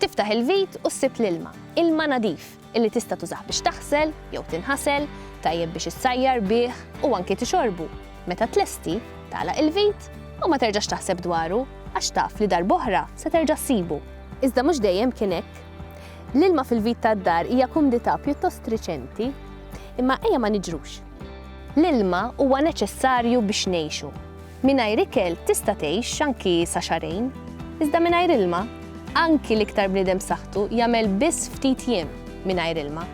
Tiftaħ il-vit u ssib l-ilma, ilma nadif, illi tista' tużah biex taħsel jew tinħasel, tajjeb biex issajjar bih u anki tixorbu. Meta tlesti, tagħlaq il-vit u ma terġax taħseb dwaru għax taf li darb'oħra se terġa' ssibu. Iżda mhux dejjem kien hekk. L-ilma fil-vit tad-dar hija kumdità pjuttost riċenti, imma ejja ma niġrux. L-ilma huwa neċessarju biex ngħixu. Mingħajr ikel tista' tgħix anki sa xahrejn, iżda mingħajr ilma, anki l-iktar bniedem b'saħħtu jagħmel biss ftit jiem mingħajr ilma.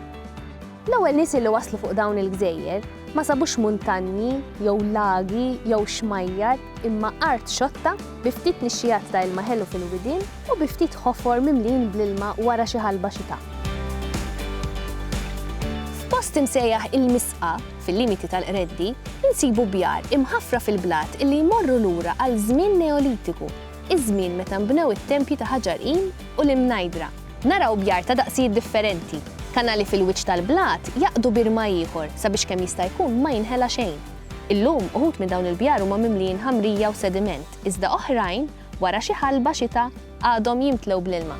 L-ewwel nies li waslu fuq dawn il-gżejjer ma sabux muntanji jew lagi jew xmajjar imma art xotta bi ftit nixxiegħat ta' ilma ħelu fil-widien u bi ftit ħofor mimlijin bl-ilma wara xi ħalba xita. F'post imsejjaħ il-Misqa, fil-limiti tal-Qreddi, insibu bjar imħaffra fil-blat illi jmorru lura għal żmien Neolitiku, iż-żmien meta nbnew it-tempji ta' ħaġar qim u l-imnajdra. Naraw bjar ta' daqsijiet differenti. Kanali fil-wiċċ tal-blat jgħaqqdu bir ma' ieħor sabiex kemm jista' jkun ma jinħela xejn. Illum, uħud minn dawn il-bjar huma mimlijin ħamrija u sediment, iżda oħrajn, wara xi ħalba xita għadhom jimtlew bl-ilma.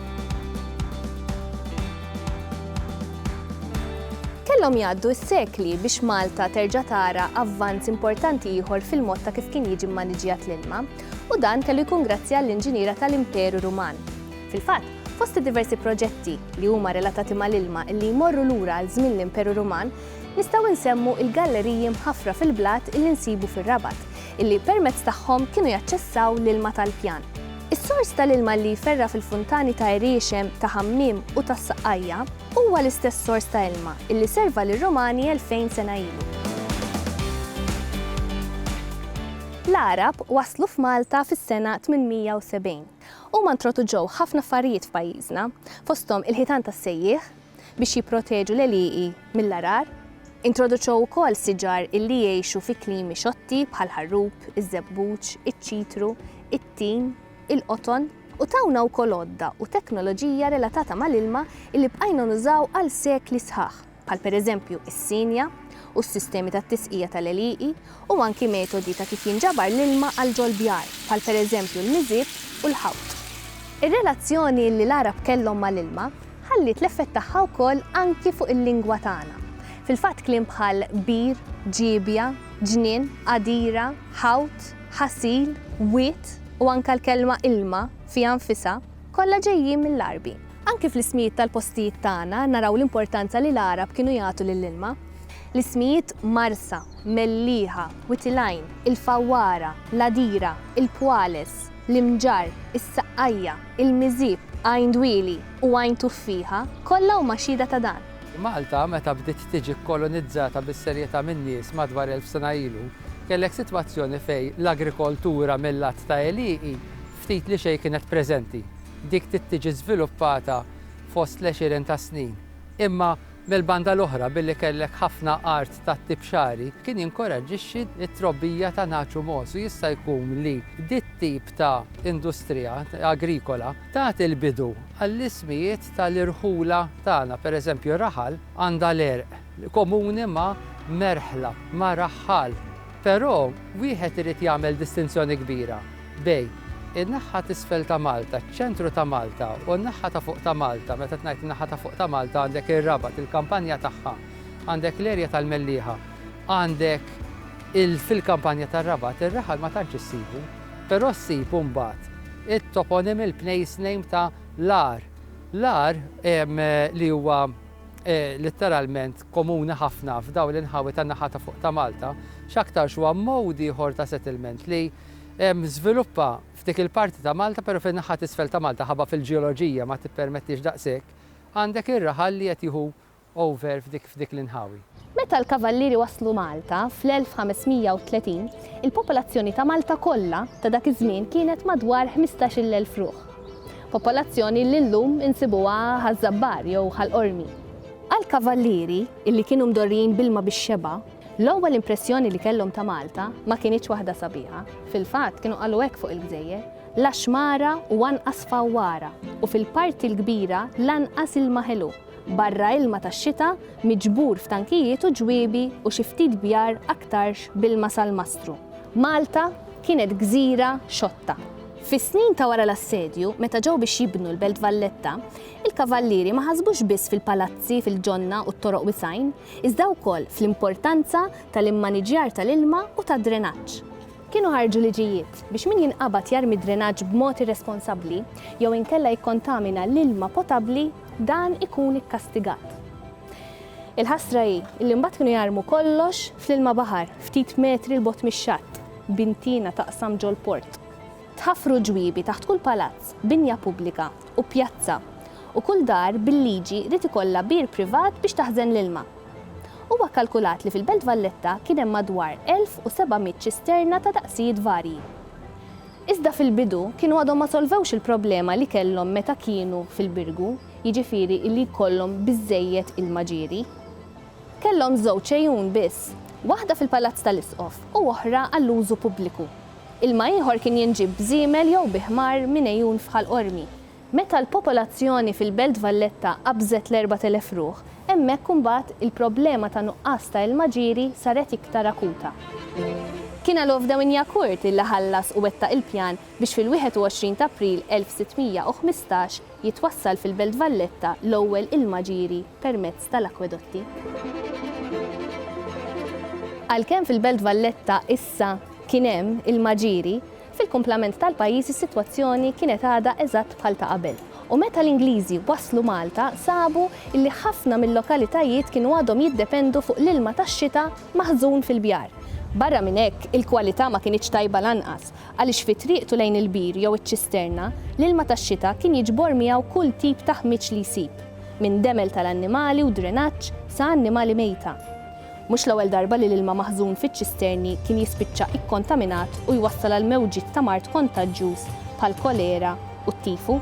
Kellhom jgħaddu s-sekli biex Malta terġa' tara avvanz importanti ieħor fil-mod ta' kif kien jiġi mmaniġjat l-ilma, u dan kellu jkun grazzi għall-inġiniera tal-Imperu Ruman. Fil-fatt, fost id-diversi proġetti li huma relatati mal-ilma li jmorru lura għal żmien l-Imperu Ruman, Nistgħu nsemmu il-galleriji mħaffra fil-blat illi nsibu fir-Rabat, illi permezz tagħhom kienu jaċċessaw l-ilma tal-pjan. Is-sors tal-ilma li jferra' fil-funtani ta' Għeriexem, ta' Ħammiem u tas-Saqqajja huwa l-istess sors ta' ilma illi serva lir-Romani elfejn sena ilu. L-Għarab waslu f'Malta fis-sena 870. Huma ntroduġew ħafna affarijiet f'pajjiżna, fosthom il-ħitan tas-sejjieħ, biex jipproteġu l-għelieqi mill-għarar. Introduċew ukoll siġar illi jgħixu fi klimi xotti bħall-ħarrub, iż-żebbuġ, iċ-ċitru, it-tin, il-qoton u tawna wkoll għodda u teknoloġija relatata mal-ilma illi bqajna nużaw għal sekli sħaħ, bħal pereżempju s-sienja u s-sistemi tat-tisqija tal-għelieqi u anki metodi ta' kif jinġabar l-ilma għal ġol-bjar, bħal pereżempju l-miżieb u l-ħawt. Ir-relazzjoni li l-Għarab kellhom mal-ilma ħalliet l-effett tagħha wkoll anki fuq il-lingwa tagħna. Fil-fatt kliem bħal bir, ġiebja, ġnien, għadira, ħawt, ħasil, wied u anke l-kelma ilma fiha nfisha kollha ġejjin mill-Għarbi. Anki fl-ismijiet tal-postijiet tagħna naraw l-importanza li l-Għarab kienu jagħtu lill-ilma. L-ismijiet Marsa, Mellieħa, Witilgħin, il-Fawwara, l-Għadira, il-Pwales, l-Imġarr, is-Saqqajja, il-Miżieb, Għajn Dwieli u Għajn Tuffieħa, kollha huma xhieda ta' dan. Malta, meta bdiet tiġi kkolonizzata bis-serjetà min-nies madwar elf sena ilu, kellek sitwazzjoni fejn l-agrikoltura mil-lat ta' għelieqi ftit li xejn kienet preżenti. Dik bdiet tiġi żviluppata fost l-għexieren ta' snin. Imma. Mill-banda l-oħra, billi kellek ħafna art tat-tip xagħri, kien jinkoraġġixxi t-trobbija ta' nagħaġ u mogħoż u jista' jkun li dit-tip ta' industrija agrikola tat il-bidu għall-ismijiet tal-irħula tagħna. Pereżempju, raħal għandha l-għerq komuni ma' merħla, ma' raħħal. Però wieħed irid jagħmel distinzjoni kbira. Bejn in-naħa t'isfel ta' Malta, ċ-ċentru ta' Malta u n-naħa ta' fuq ta' Malta, meta ngħid in-naħa ta' fuq ta' Malta għandek ir-Rabat, il-kampanja tagħha, għandek l-erja tal-Mellieħa, għandek il fil-kampanja tar-Rabat ir-raħal ma tantx issibu, però ssib imbagħad it-toponym il-place name ta' l-għar. L-għar li huwa litteralment komuni ħafna f'dawn l-inħawi tan-naħa ta' fuq ta' Malta, x'aktarx huwa mode ieħor ta' settlement li żviluppa f'dik il-parti ta' Malta, però fin-naħa t'isfel ta' Malta ħabba fil-ġeoloġija ma tippermettix daqshekk, għandek ir-raħal li qed jieħu over f'dik l-inħawi. Meta l-Kavallieri waslu Malta fl-1530, il-popolazzjoni ta' Malta kollha ta' dak iż-żmien kienet madwar ħmistax-il elf ruħ. Popolazzjoni li llum insibuha Ħaż-Żabbar jew Ħal Qormi. Għall-Kavallieri, illi kienu mdorrijin b'ilma bix-xebgħa, L-ewwel impressjoni li kellhom ta' Malta ma kinitx waħda sabiħa. Fil-fatt, kienu qalu hekk fuq il-gżejjer, La xmara u anqas fawwara, u fil-parti l-kbira lanqas ilma ħelu, barra ilma tax-xita miġbur f'tankijiet u ġwiebi u xi ftit bjar aktarx b'ilma sal-mastru. Malta kienet gżira xotta. Fis-snin ta' wara l-assedju, meta ġew biex jibnu l-Belt Valletta, il-Kavallieri ma ħasbux biss fil-palazzi, fil-ġonna u t-toroq wisgħin, iżda wkoll fl-importanza tal-immaniġġjar tal-ilma u tad-drenaġġ. Kienu ħarġu liġijiet biex min jinqabad jarmi d-drenaġġ b'mod irresponsabbli jew inkella jikkontamina l-ilma potabbli dan ikun ikkastigat. Il-ħasra hi li mbagħad kienu jarmu kollox fl-ilma baħar ftit metri 'l bogħod mix-xatt, b'intina taqsam ġol-port. Tħaffru ġwiebi taħt kull palazz, binja pubblika, u pjazza, u kull dar bil-liġi ried ikollha bir privat biex taħżen l-ilma. Huwa kkalkulat li fil-Belt Valletta kien hemm madwar 1,700 ċisterna ta' daqsijiet varji. Iżda fil-bidu kienu għadhom ma solvewx il-problema li kellhom meta kienu fil-Birgu, jiġifieri li jkollhom biżżejjed ilma ġieri. Kellhom żewġ għejun biss, waħda fil-Palazz tal-Isqof u oħra għall-użu pubbliku. Ilma ieħor kien jinġieb b'żiemel jew bi ħmar minn għejun f'Ħal Qormi. Meta l-popolazzjoni fil-Belt Valletta qabżet l-erbat elef ruħ, hemmhekk imbagħad il-problema ta' nuqqas ta' ilma ġieri saret iktar akuta. Kien għal Ovdaw Injakurt illi ħallas u wettaq il-pjan biex fil-21 t'April 1615 jitwassal fil-Belt Valletta l-ewwel ilma ġieri permezz tal-akwedotti. Għalkemm fil-Belt Valletta, Sa kien hemm il-Maġiri, fil-kumplament tal-pajjiż is-sitwazzjoni kienet għadha eżatt bħal ta' qabel u meta l-Ingliżi waslu Malta sabu li ħafna mil-lokalitajiet kienu għadhom jiddependu fuq l-ilma tax-xita maħżun fil-bjar. Barra minn hekk, il-kwalità ma kinitx tajba lanqas għaliex fi triqtu lejn il-bir jew iċ-ċisterna, l-ilma tax-xita kien jiġbor miegħu kull tip ta' ħmieġ li jsib, minn demel tal-annimali u drenaġġ sa annimali mejta. Mhux l-ewwel darba li l-ilma maħżun fiċ-ċisterni kien jispiċċa ikkontaminat u jwassal għal mewġiet ta' mard kontaġġjuż bħall-kolera u t-tifu.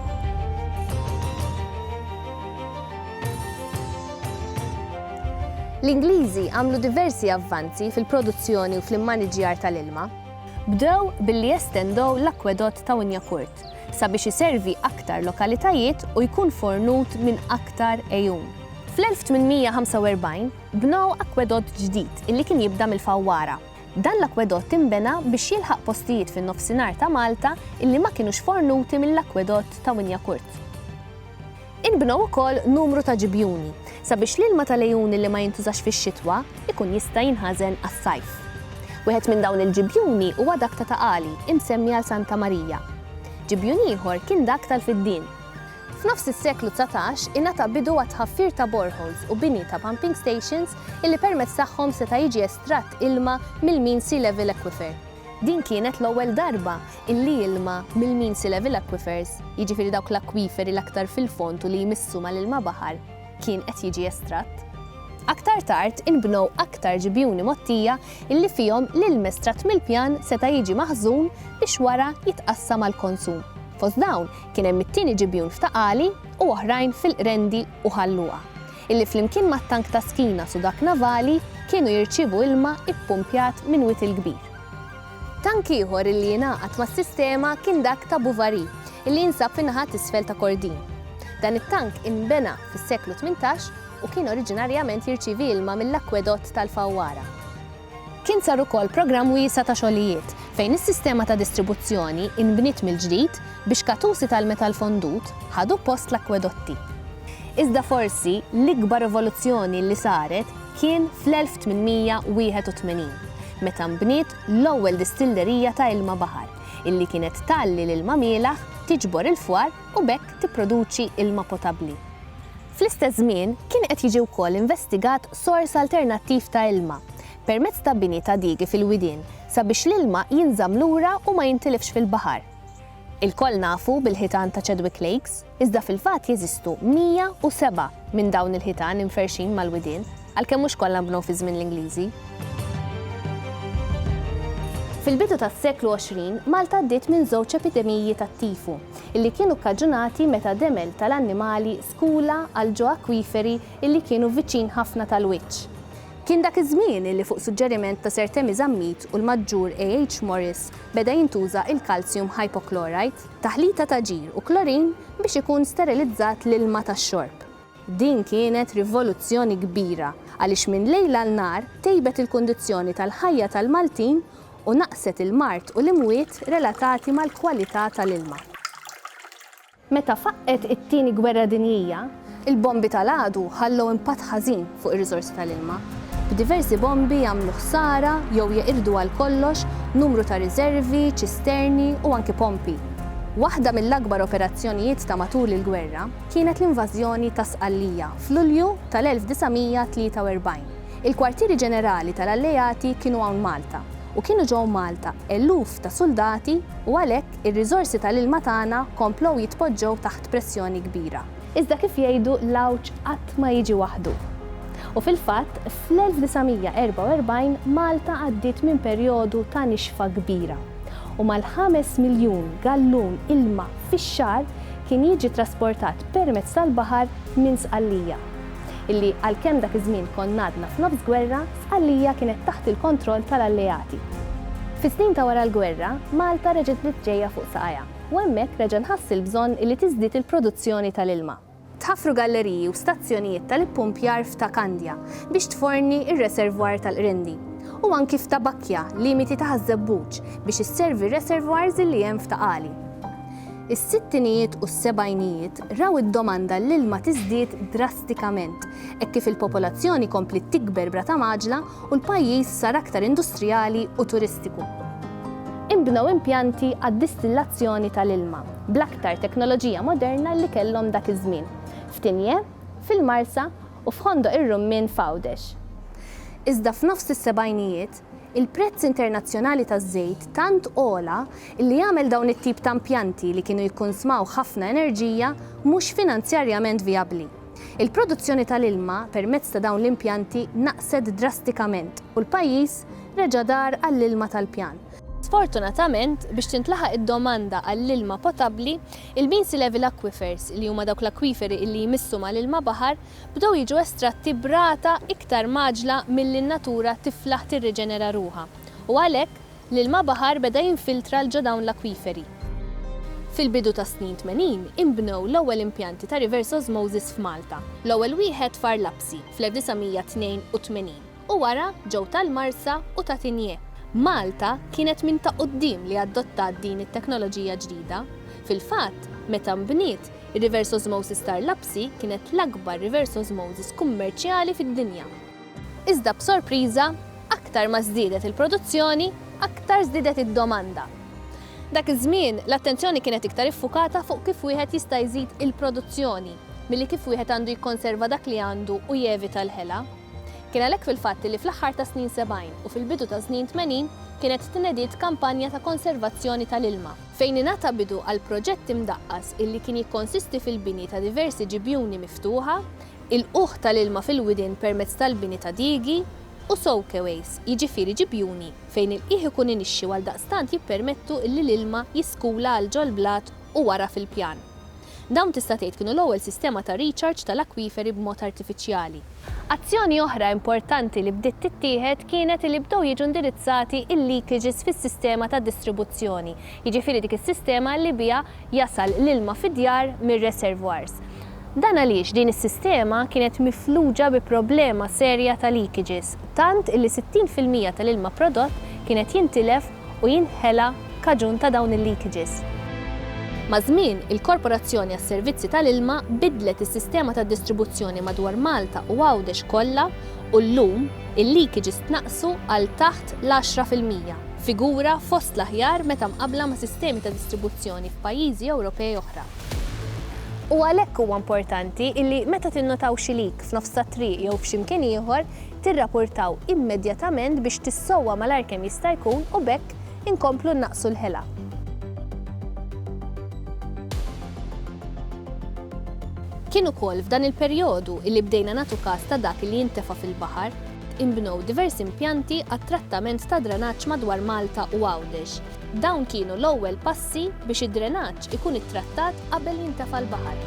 L-Ingliżi għamlu diversi avvanzi fil-produzzjoni u fl-immaniġġjar tal-ilma. Bdew billi jestendew l-akkwedott ta' Winyacourt sabiex iservi aktar lokalitajiet u jkun fornut minn aktar għejun. Fl-1845, Bnew akwedott ġdid illi kien jibda mill-Fawwara. Dan l-akwedott inbena biex jilħaq postijiet fin-Nofsinhar ta' Malta illi ma kinux fornuti mill-akwedott ta' Winjacurt. Inbnew ukoll numru ta' ġibjuni sabiex l-ilma tal-għejun illi ma jintużax fix-xitwa jkun jista' jinħażen għas-sajf. Wieħed minn dawn il-ġibjuni huwa dak ta' Ta' Qali, imsemmi għal Santa Marija. Ġibjun ieħor kien dak tal-Fiddien. F'nofs is-seklu dsatax ingħata bidu għat-tħaffir ta' boreholes u bini ta' pumping stations illi permezz tagħhom seta' jiġi estratt ilma mill-mean sea level aquifer. Din kienet l-ewwel darba illi ilma mill-mean sea level aquifers, jiġifieri dawk l-akwiferi l-aktar fil-fond u li jmissu mal-ilma baħar, kien qed jiġi estratt. Aktar tard inbnew aktar ġibjuni mgħottija illi fihom l-ilm estratt mill-pjan seta' jiġi maħżun biex wara jitqassam għall-konsum. Fost dawn Kien hemm it-tieni ġibjun f'Ta' Qali u oħrajn fil-Qrendi u Ħal Luqa, illi flimkien mat-tank ta' Skinas u dak navali kienu jirċievu ilma ppumpjat minn Wied il-Kbir. Tank ieħor illi ingħaqad mas-sistema kien dak ta' Buvari, illi jinsab fin-naħa t'isfel ta' Kordin. Dan it-tank inbena fis-seklu tmintax u kien oriġinarjament jirċievi ilma mill-akwedott tal-Fawwara. Kien sar ukoll programm wiesa' ta' xogħlijiet fejn is-sistema ta' distribuzzjoni inbniet mill-ġdid biex katusi tal-metall fondut ħadu post l-akkwedotti. Iżda forsi l-ikbar rivoluzzjoni li saret kien fl-1881, meta nbniet l-ewwel distillerija ta' ilma baħar, illi kienet tgħalli l-ilma mielaħ, tiġbor il-fwar u b'hekk tipproduċi ilma potabbli. Fl-istess żmien, kien qed jiġi wkoll investigat sors alternattiv ta' ilma, permezz ta' bini ta' digi fil-widien sabiex l-ilma jinżamm lura u ma jintilifx fil-baħar. Ilkoll nafu bil-ħitan ta' Chadwick Lakes, iżda fil-fatt jeżistu 107 minn dawn il-ħitan imferrxin mal-widien, għalkemm mhux kollha nbnew fi żmien l-Ingliżi. Fil-bidu tas-seklu 20, Malta għaddiet minn żewġ epidemiji tat-tifu. illi kienu kkaġunati meta demel tal-annimali skula għal ġo akwiferi illi kienu viċin ħafna tal-wiċċ. Kien dak iż-żmien illi fuq suġġeriment ta' Sir Temi Zammit u l-Maġġur A. H. Morris beda jintuża il-calcium hypochlorite, taħlita ta' ġir u klorin biex ikun sterilizzat l-ilma tax-xorb. Din kienet rivoluzzjoni kbira għaliex minn lejl għal nhar tejbet il-kundizzjoni tal-ħajja tal-Maltin u naqqset il-mard u l-imwiet relatati mal-kwalità tal-ilma. Meta faqqgħet it-Tieni Gwerra Dinjija, il-bombi tal-għadu ħallew impatt ħażin fuq ir-riżorsi tal-ilma, b'diversi bombi għamlu ħsara jew jeqirdu għal kollox numru ta' riżervi, ċisterni u anki pompi. Waħda mill-akbar operazzjonijiet ta' matul il-gwerra, kienet l-invażjoni ta' Sqallija f'Lulju tal-1943. Il-kwartieri ġenerali tal-Alleati kienu hawn Malta u kienu ġew Malta eluf ta' suldati u għalhekk ir-riżorsi tal-ilma tagħna komplew jitpoġġew taħt pressjoni kbira. Iżda kif jgħidu l-għawġ qatt ma jiġi waħdu. U fil-fatt, fl-1944 Malta għaddiet minn perjodu ta' nixfa kbira u mal-ħames miljun gallun ilma fix-xahar, kien jiġi trasportat permezz tal-baħar minn Sqallija. Illi għalkemm dak iż-żmien konna għadna f'nofs gwerra, Sqallija kienet taħt il-kontroll tal-Alleati. Fis-snin ta' wara l-gwerra, Malta reġgħet bdiet ġejja fuq saqajha u hemmhekk reġa' nħass il-bżonn illi tiżdied il-produzzjoni tal-ilma. Tħaffru galleriji u stazzjonijiet tal-ippumpjar f'Ta' Kandja biex tforni r-reservoir tal-Qrindi, u anki f'Ta' Bakkja, limiti ta' Ħaż-Żebbuġ, biex isservi r-reservoirs li hemm f'Ta' Qali. Is-sittinijiet u s-sebgħinijiet raw id-domanda l-ilma tiżdied drastikament hekk kif il-popolazzjoni kompliet tikber b'rata mgħaġġla u l-pajjiż sar aktar industrijali u turistiku. Inbnew impjanti għad-distillazzjoni tal-ilma bl-aktar teknoloġija moderna li kellhom dak iż-żmien, f'Tignè, fil-Marsa, u f'Ħondoq ir-Rummien f'Għawdex. Iżda f'nofs is-sebgħinijiet, il-prezz internazzjonali taż-żejt tant għola li għamel dawn it-tip ta' impjanti li kienu jikkunsmaw ħafna enerġija mhux finanzjarjament vijabbli. Il-produzzjoni tal-ilma permezz ta' dawn l-impjanti naqset drastikament u l-pajjiż reġa' dar għall-ilma tal-pjan. Sfortunatament, biex tintlaħaq id-domanda għall-ilma potabbli, il-Beansey Level Aquifers, li huma dawk l-akwiferi illi jmissu mal-ilma baħar, bdew jiġu estratti b'rata iktar mgħaġġla milli n-natura tiflaħ tirriġenera ruħha u għalhekk, L-ilma baħar beda jinfiltra 'l ġo dawn l-akwiferi. Fil-bidu tas-snin tmenin inbnew l-ewwel impjanti ta' reverse osmosis f'Malta, l-ewwel wieħed f'Għar Lapsi fl-1982 u wara ġew tal-Marsa u ta' Tinje. Malta kienet minn ta' quddiem li adottat din it-teknoloġija ġdida. Fil-fatt, meta nbniet, ir-reverse osmosis t'Għar Lapsi kienet l-akbar reverse osmosis kummerċjali fid-dinja. Iżda b'sorpriża, aktar ma żdiedet il-produzzjoni, aktar żdiedet id-domanda. Dak iż-żmien, l-attenzjoni kienet iktar iffukata fuq kif wieħed jista' jżid il-produzzjoni milli kif wieħed għandu jikkonserva dak li għandu u jevita l-ħela. Kien għalhekk fil-fatt li fl-aħħar tas-snin 70 u fil-bidu tas-snin 80 kienet tnediet kampanja ta' konservazzjoni tal-ilma, fejn ingħata bidu għal proġett imdaqqas illi kien jikkonsisti fil-bini ta' diversi ġibjuni miftuħa, Il-qugħ tal-ilma fil-widien permezz tal-bini ta' diegi u soakeways, jiġifieri ġibjuni fejn il-qiegħ ikun inixxi u għaldaqstant jippermettu illi l-ilma jiskula għal ġol-blat u wara fil-pjan. Dawn tista' tgħid kienu l-ewwel sistema ta' recharge tal-akwiferi b'mod artifiċjali. Azzjoni oħra importanti li bdiet tittieħed kienet illi bdew jiġu indirizzati il-leakages fis-sistema ta' distribuzzjoni, jiġifieri dik is-sistema illi biha jasal l-ilma fid-djar mir-reservoirs. Dan għaliex din is-sistema kienet mifluġa bi problema serja ta' leakages, tant illi 60 fil-mija tal-ilma prodott kien qed jintilef u jinħela kaġun ta' dawn il-leakages. Maż-żmien, il-Korporazzjoni għas-Servizzi tal-Ilma biddlet is-sistema tad-distribuzzjoni madwar Malta u Għawdex kollha u llum il-leakages tnaqqsu għal taħt l-għaxra fil-mija. figura fost l-aħjar meta mqabbla ma' sistemi ta' distribuzzjoni f'pajjiżi Ewropej oħra. U għalhekk huwa importanti li meta tinnotaw xi leak f'nofs tat-triq jew f'xi mkien ieħor, tirrapurtaw immedjatament biex tissowwa malajr kemm jista' jkun u b'hekk inkomplu nnaqqsu l-ħela. Kien ukoll f'dan il-perjodu li bdejna nagħtu kas ta' dak li jintefa' fil-baħar. Inbnew diversi impjanti għat-trattament tad-drenaġġ madwar Malta u Għawdex. Dawn kienu l-ewwel passi biex id-drenaġġ ikun ittrattat qabel jintefa' l-baħar.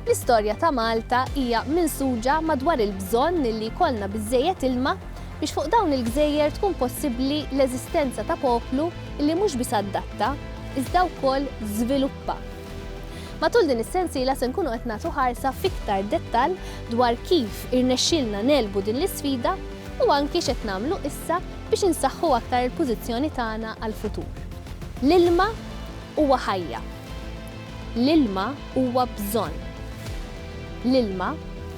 L-istorja ta' Malta hija minsuġa madwar il-bżonn li jkollna biżżejjed ilma biex fuq dawn il-gżejjer tkun possibbli l-eżistenza ta' poplu li mhux biss adatta, iżda wkoll żviluppa. Matul din is-sensiela se nkunu qed nagħtu ħarsa f'iktar dettall dwar kif irnexxielna negħlbu din l-isfida u anki x'qed nagħmlu issa biex insaħħu aktar il-pożizzjoni tagħna għall-futur. L-ilma huwa ħajja. L-ilma huwa bżonn. L-ilma